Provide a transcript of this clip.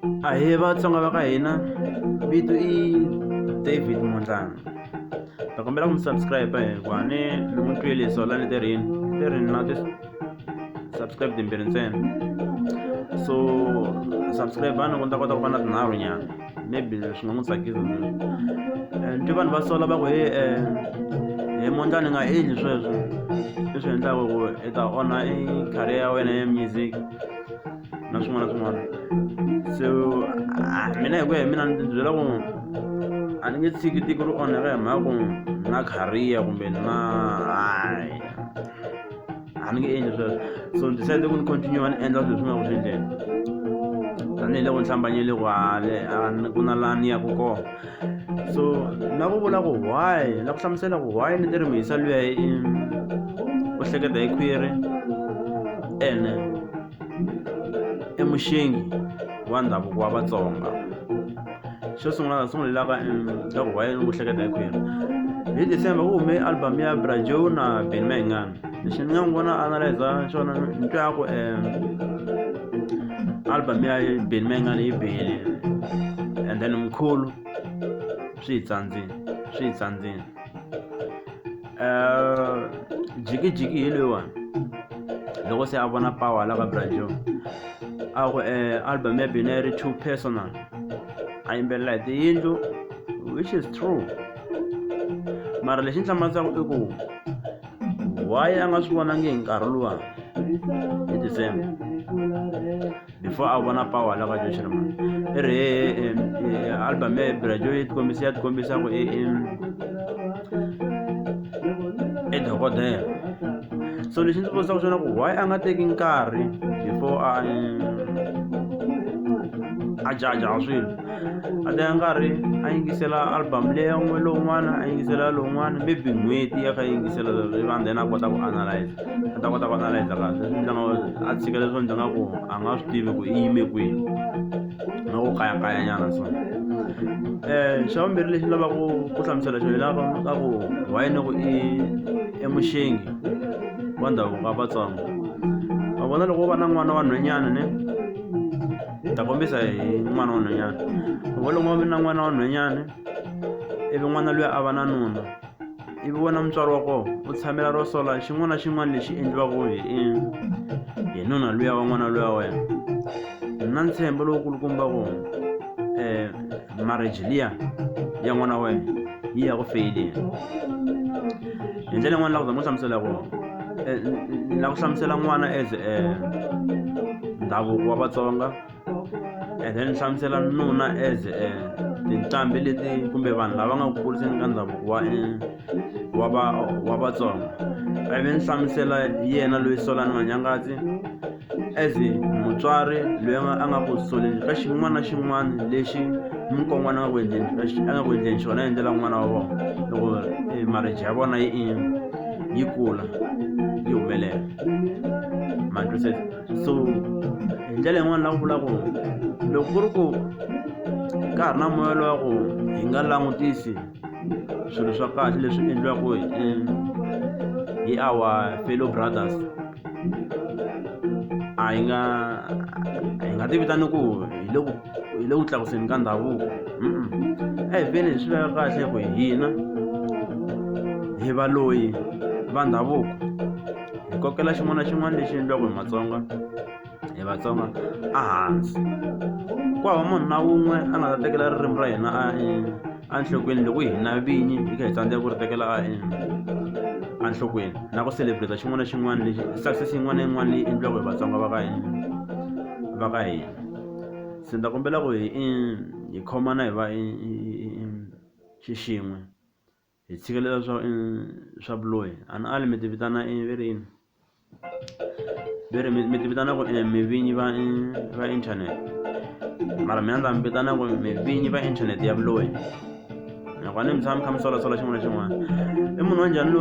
Ahee vatsonga va ka hina vito i David Mondlana ta kombela ku mi subscribe hikuva ni ni n'wi twile so la ni tirhini tirhini na ti subscribe timbirhi ntsena so subscribe ni ku ni ta kota ku va na tinharhu nyana maybe swi nga n'wi tsakisa eh, ni twe vanhu va sola va ku he um he mondla ni nga endli sweswo leswi endlaka ku i ta onha i career ya wena ya music na swin'wana na swin'wana so ah, mina hi ku ya hi mina ni byela ku a ni nge tshiki tiko ri onheka hi mhaka ku na khariya kumbe na hayi a ni nge endli sweswo so ni decide ku ni continue ni endla swilo swi nga ku swi endleni tanihiloko ni hlambanyele ku hale ku na laha ni yaku kona so na ku vula ku why na ku hlamusela ku why ni ti ri mihisa luya u hleketa hi khwiri ene i muxingi wa ndhavuko wa vatsonga xo sungula ta sungulelaka ntirho wa yena ku hleketa hi khwiri hi december ku hume album ya brajo na ben mayingani lexi ni nga n'wi vona analyza xona ni twa ku um album ya ben mayingani yi bihile and then mkhulu swi hi tsandzile swi hi tsandzile Eh, jikijiki hi loyiwani loko se a vona power la ka brajo a ku eh, album ya bina yi ri too personal a yimbelela hi tiyindlu which is true mara lexi ni hlamarisaka i ku why a nga swi vonangi hi nkarhi luwa hi december before a vona power la ka jo shirma ere album e brajo e kombisa e kombisa ko e e dokodela so lexi ndzi vutisa ku xona ku why a nga teki nkarhi before a a jaja swilo a teka nkarhi a yingisela album leya n'we lowun'wana a yingisela lowun'wana maybe n'hweti ya kha yingisela lero iva then a kota ku analyze a ta kota ku analyza kahle ndyangu a tshika leswo ndzi nga ku a nga swi tivi ku i yime kwihi na ku kayakayanyana so um xa vumbirhi lexi lavaka ku hlamusela xo hilava ka ku why ni ku i emuxengi wa ndhavuko wa vatsongo va vona loko va na n'wana wa nhwenyana ne ta kombisa hi n'wana wa nhwenyana loko loko va na n'wana wa nhwenyana ivi n'wana luya a va na nuna ivi wena mutswari wa kona u tshamela ro sola xin'wana na xin'wana lexi endliwaka hi hi nuna luya wa n'wana luya wena na ntshembo lowukulukumba ku um eh, marriage liya ya n'wana wena yi ya ku feyileni hi ndlela yin'wana la ku za mu hlamusela ku eh, la ku hlamusela n'wana as eh, ndhavuko wa vatsonga ene ni hlamusela nuna as eh, tinqambi leti kumbe vanhu lava nga ku kuriseni ka ndhavuko wa eh, wa va wa vatsonga a ve ni hlamusela yena loyi solani manyangatsi as mutswari loyi a nga ku soleni ka xin'wana na xin'wana lexi mukon'wana a nga ku endleni a nga ku endleni xona endlela n'wana wa vona loko eh, marriage ya vona yi yi kula yi humelela ma twisisa so hi ndlela yin'wana la ku vula ku loko ku ri ku ka ha ri na moya lowa ku hi nga langutisi swilo swa kahle leswi endliwaka hi eh, hi our fellow brothers a hi nga hi nga tivitani ku hi le ku hi le ku tlakuseni ka ndhavuko a hi feni hi swi veka kahle ku hina hi va loyi va ndhavuko hi kokela xin'wana na xin'wana lexi endliwaka hi matsonga hi vatsonga ehansi ku hava munhu na wun'we a nga ta tekela ririmi ra hina a enhlokweni loko hina vinyi hi kha hi tsandzeka ku ri tekela a enhlokweni na ku celebrate xin'wana na xin'wana lexi success yin'wana na yin'wana leyi endliwaka hi vatsonga va ka hina va ka hina se ni ta kombela ku hi hi khomana hi va xixin'we Hi tshikelela swa swa vuloyi a ni ali mi ti vitana i ve ri yini ve ri mi ti vitana ku mi vinyi va va internet mara mina ndza mi vitana ku mi vinyi va internet ya vuloyi nakona mi tshama mi kha mi solasola xin'wana na xin'wana i munhu wa njhani lowa